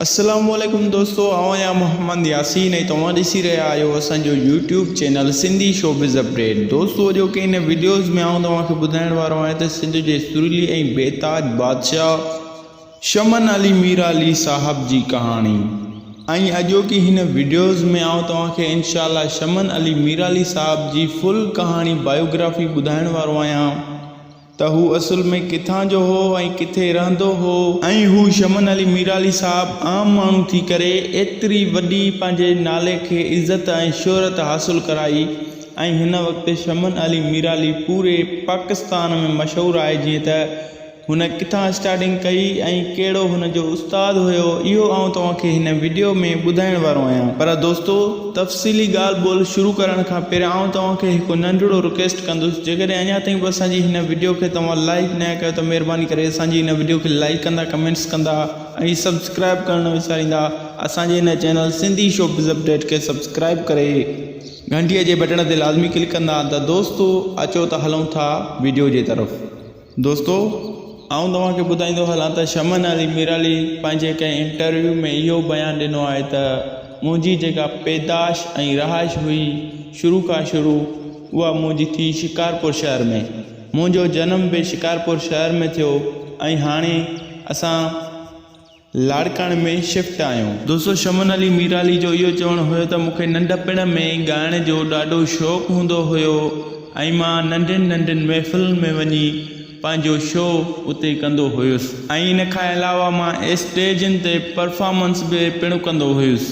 اسلام عليڪم دوستو آئون آهيان محمد ياسين ۽ توهان ڏسي رهيا آهيو اسان جو YouTube channel Sindhi showbiz update دوستو اڄو کي ان ويڊيوز ۾ آئون توهان کي ٻڌائڻ وارو آهيان ته سنڌ جي سرلي ۽ بيتاج بادشاهه شمن علي ميرا علي صاحب جي ڪهاڻي ۽ اڄو کي هن ويڊيوز ۾ آئون توهان کي انشاء الله شمن علي ميرا علي صاحب جي فل ڪهاڻي بايوگرافي ٻڌائڻ وارو آهيان ته هو اصل ۾ ڪٿان جو هو ۽ ڪٿي رهندو هو ۽ هو شمن علي ميرعلي صاحب عام ماڻهو ٿي ڪري ايتري وڏي پنهنجي نالي کي عزت ۽ شهرت حاصل ڪرائي ۽ هن وقت شمن علي ميرعلي پوري پاڪستان ۾ مشهور آهي جيئن ته هن ڪٿان اسٽارٽنگ ڪئي ۽ ڪهڙو هن جو استاد هيو اهو آئون توهان کي هن وڊيو ۾ ٻڌائڻ وارو آهيان پر دوستو تفصيلي ڳالهه ٻولهه شروع ڪرڻ کان پهريان آئون توهان کي هڪ ننڍڙو رڪويسٽ ڪندس جيڪڏهن اڃا تائين به اسان جي هن وڊيو کي توهان لائيڪ ناهي ڪيو ته مهرباني ڪري اسان جي هن وڊيو کي لائيڪ ڪندا ڪمينٽس ڪندا ۽ سبسڪرائيب ڪرڻ نه وساريندا اسان جي هن channel Sindhi showbiz update کي سبسڪرائيب ڪري گهنٽيء جي بٽڻ تي لازمي ڪلڪ ڪندا ته دوستو اچو ته هلون ٿا وڊيو جي طرف دوستو آئون توهان کي ٻڌائيندو هلان ته شمع نالي ميرالي پنهنجي ڪنهن انٽرويو ۾ اهو بيان ڏنو آهي ته منهنجي جيڪا پيدائش ۽ رهائش هئي شروع کان شروع اها منهنجي ٿي شڪارپور شهر ۾ منهنجو جنم به شڪارپور شهر ۾ ٿيو ۽ هاڻي اسان لاڙڪاڻي ۾ شفٽ آهيون. دوستو شمن علي ميرالي جو اهو چوڻ هيو ته مونکي ننڍپڻ ۾ ئي ڳائڻ جو ڏاڍو شوق هوندو هيو ۽ مان ننڍين ننڍين محفلن ۾ وڃي پنهنجو شو اتي ڪندو هيس ۽ ان کان علاوه مان اسٽيجن تي پرفارمنس به پڻ ڪندو هيس.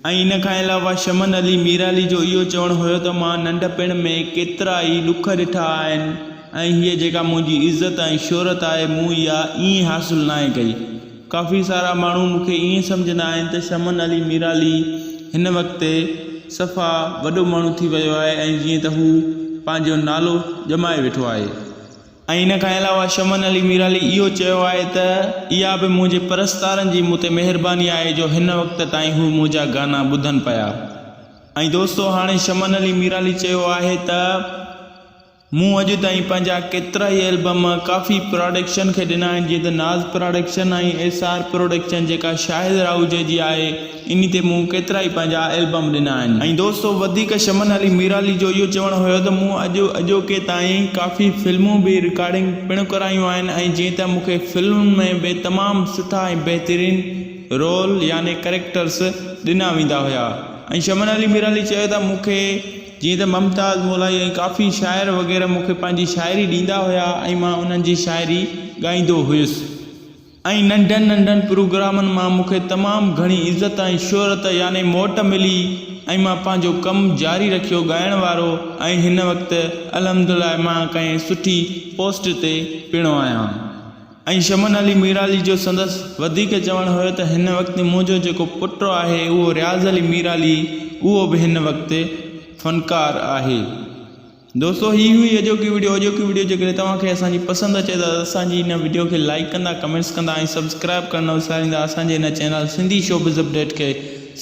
۽ ان کان علاوه شمن علي ميرعلي جو اهو چوڻ هيو ته مان ننڍپڻ ۾ ڪيترا ئي ڏک ڏٺا آهن ۽ هيء جيڪا منهنجي عزت ۽ شهرت آهي مون اها ائين حاصل ناهي ڪئي. ڪافي سارا ماڻهو مون کي ائين سمجهندا آهن ته شمن علي ميرعلي هن وقت صفا وڏو ماڻهو ٿي ويو آهي ۽ جيئن ته هو پنهنجو نالو ڄمائي ويٺو آهي. ۽ ان کان علاوه شمن علي ميرالي اهو چيو آهي ته اها به منهنجي پرستارن جي مون تي مهرباني آهي جو هن وقت تائين هو منهنجا گانا ٻڌن پيا ۽ دوستو هاڻي شمن علي ميرالي چيو آهي ته مون اڄ تائين پنهنجا ڪيترا ئي البم ڪافي پراڊڪشن کي ڏنا آهن جيئن ته Naz production ۽ S R production جيڪا شاهد راهوجي جي آهي انهي تي مون ڪيترائي پنهنجا البم ڏنا آهن. ۽ دوستو وڌيڪ شمن علي ميرالي جو اهو چوڻ هيو ته مون اڄ اڄوڪي تائين ڪافي فلمون به رڪارڊنگ پڻ ڪرايون آهن ۽ جيئن ته مون کي فلمن ۾ به تمام سٺا ۽ بهترين رول يعني ڪريڪٽرس ڏنا ويندا هيا ۽ شمن علي ميرالي چيو ته مون کي جيئن ته ممتاز مولائي ۽ ڪافي شاعر وغيره مون کي پنهنجي شاعري ڏيندا هيا ۽ مان انهن جي شاعري ڳائيندو هيس. ۽ ننڍن ننڍن پروگرامن مان مون کي تمام گهڻي عزت ۽ شهرت يعني موٽ ملي ۽ مان پنهنجو ڪم جاري رکيو ڳائڻ وارو ۽ هن وقت الحمدلله مان ڪنهن سٺي پوسٽ تي پڻ آهيان ۽ شمن علي ميرالي جو سندس وڌيڪ چوڻ هيو ته هن وقت منهنجو جيڪو پٽ آهي اهو رياض علي ميرالي اهو به هن وقت فنڪار آهي. دوستو هي هئي اڄوڪي وڊيو اڄوڪي وڊيو جيڪڏهن توهان کي اسان جي پسند اچي ته اسان جي هن وڊيو کي لائيڪ ڪندا ڪمينٽس ڪندا ۽ سبسڪرائيب ڪرڻ نه وساريندا اسان جي هن چينل سنڌي شوبز اپڊيٽ کي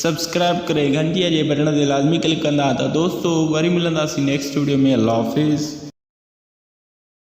سبسڪرائيب ڪري گهنٽيء جي بٽڻ تي لازمي ڪلڪ ڪندا ته دوستو وري ملنداسين نيڪسٽ وڊيو ۾ الله حافظ.